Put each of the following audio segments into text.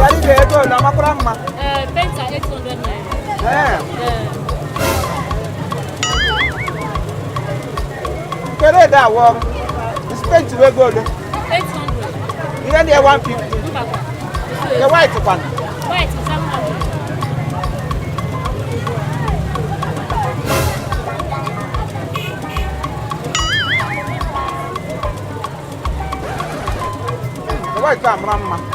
Yarịga ego ole amakwara mma Ee, painter 800 naira. Ee, Ee, kere edo a wụ ọrụ spenti ego ole 800. ihe ndị ya 150 Mba kwa. nke white kwanụ White is white a mara mma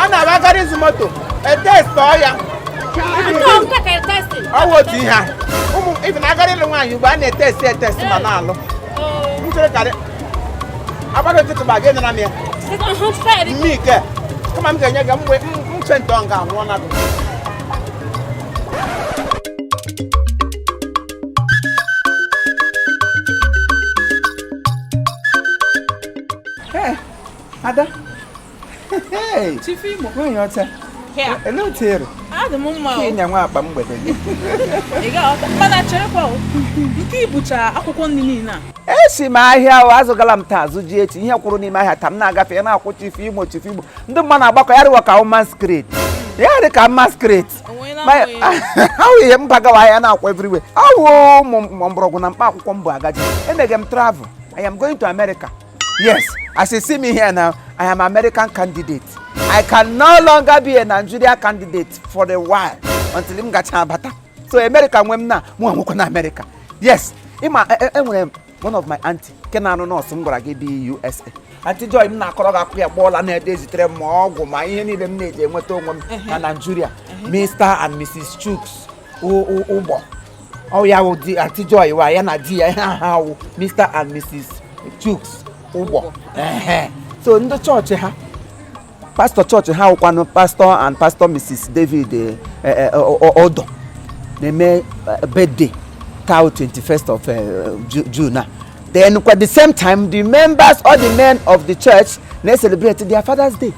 a na-abụ a gara ịzụ moto e testiọ ya ọ wụ otu ihe even a gara ịlụ nwaanyị ugbu a na-etesti etesti ma na-alụ nchere karị agbado ntụtụ ma gị nara m ya mme ike kama m ga-enye gị mgbe mche ntọ nga anwụọ na gị ada nwanyị ọcha elee otu ere ịnya nwa akpa mgbede gị mana cherekwa nke i bucha akwụkwọ nri niile a esi m ahịa ahụ azụgala m taa azụ ji echi ihe kwụrụ n'ime ahịa taa m na-agafe ya na-akwụ chifu imo chifu imo ndị mmadụ na-agbakọ ya rịwa ka a wụ m masquerade ya rị ka masquerade ahụ ihe m bagawa ahịa na-akwụ everywhere ọ wụ mgbọrọgwụ na mkpa akwụkwọ m bu agaje emege m travel I am going to America Yes, as you see me here now, I am American candidate. I can no longer be a Nigeria candidate for a while until m gacha abata. So America nwe m na mụnwa nwekwanụ America. Yes, ị ma enwere m one of my auntie nke na-arụ nọọsụ m gwara gị bi USA. Auntie Joy m na-akọrọ gị akụ ya kpọọla na-ede ezitere m ma ọgwụ ma ihe niile m na-eji enweta onwe m na Nigeria. Mr and Mrs Chuks ụgbọ ọ ya wụ di Aunty Joy wa ya na di ya ihe aha wụ Mr and Mrs Chuks ụgbọ so ndị chọọchị ha pastọ chọọchị ha wụkwanụ pastọ and pastọ Mrs David eh, eh, eh, Odo na-eme birthday taa 21st of June then at the same time the members or the men of the church na-celebrate their father's day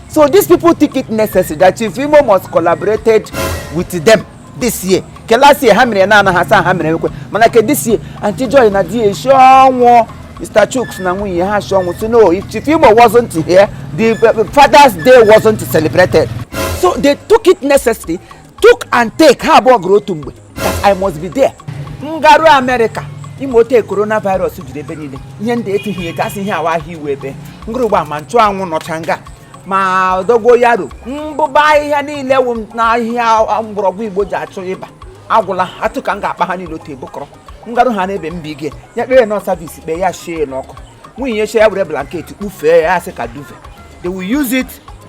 so these people think it necessary that chief imo must collaborated with them this year ke last year ha mere na anaghị asa ha mere ekwe mana ke this year aunty joy na di e shi ọnwụ mr chuks na nwunye a shi ọnwụ sị no if chief imo wasn't here the father's day wasn't celebrated so they took it necessary took and take ha abụọ gụrụ otu mgbe that I must be there m garu Amerịka ị ma otu coronavirus jiri ebe niile ihe ndị etughị etu asị ihe a wụ ahịhịa iwu ebe ngụrụgba ma nchụanwụ nọcha nga ma dogonyaro mbụba ahịhịa niile wụ na ahịhịa mgbọrọgwụ igbo ji achụ ịba agwụla atụ ka m ga-akpa ha niile otu e bukọrọ m garu ha n'ebe mba ige ya kpere nọ savis kpee ya shie n'ọkụ nwunye ya were blanketi kpufee ya a sị ka duvet they will use it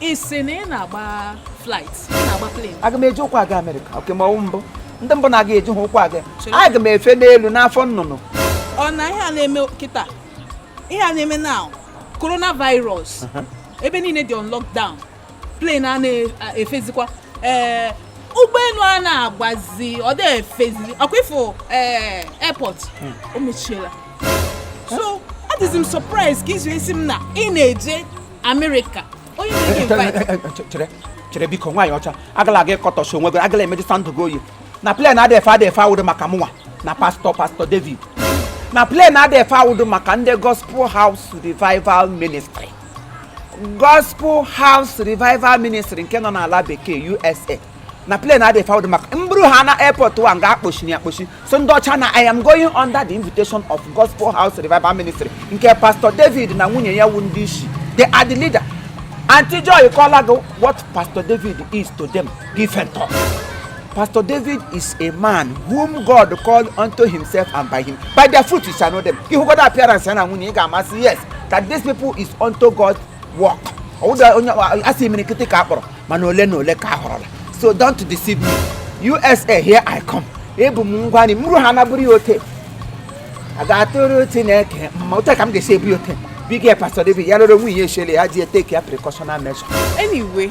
ị sị na ị na-agba flight ị na-agba plane aga m eji ụkwụ aga America okay ma ọ wụ mbụ ndị mbụ na-aga eji ha ụkwụ aga aga m efe n'elu n'afọ nnụnụ ọ na ihe a na-eme kịta ihe a na-eme now coronavirus ebe niile dị on lockdown plane a na-efezikwa ee ụgbọelu a na-agbazi ọ dị efezi ọ kwa ị fụ ee airport o mechiela so adịzi m surprise ka i si asị m na ị na-eje America. Onye na-enye eh, eh, invite? Eh, chere, chere biko nwaanyị ọcha agala aga ịkọtọsi onwe gị agala emeji sandụ gị oyi na plane adị efe adị efe awụdị maka mụnwa na pas Pastor David na plane adị efe awụdị maka ndị gospel house revival ministry gospel house revival ministry nke nọ n'ala bekee USA na plane adịghị efe awụdị maka mbụrụ ha na airport wa nga akpochi na akpochi so ndị ọcha na I am going under the invitation of Gospel House Revival Ministry nke Pastor David na nwunye ya wu ndị isi they are the leader Auntie Joy kọla gị what Pastor David is to them different talk Pastor David is a man whom God called unto himself and by him by their fruit you shall know them ị hụgodu appearance ya na nwunye ya ị ga-ama sị yes that these people is unto God's work ọwụda onye a sị imirikiti ka a kpọrọ mana ole na ole ka a họrọla so don't deceive me USA here i come ebu m ngwa nri mụ rụ ha na-abụrụ ya ote a ga-atụrụ chineke mma otu a ka m ga-esi ebu ya ote big ya pastor david ya lụrụ nwunye ya eshele ya ji etake ya precautional measure anyway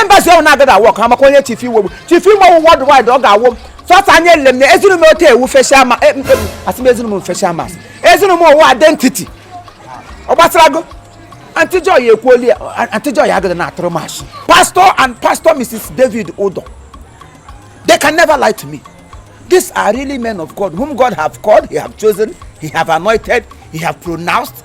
embassy ahụ na-agaghị awork ha maka onye Chief Imo wụ Chief Imo worldwide ọ ga-awork fata anya ele m na ezinu m otu ewu facial ma e, e, asị m ezinu m facial mask ezinu m ụwa identity ọ gbasarago Auntie Joy ekwuola Auntie Joy agada na-atụrụ m ashị pastor and pastor Mrs. David Udo they can never lie to me these are really men of God whom God have called he have chosen he have anointed he have pronounced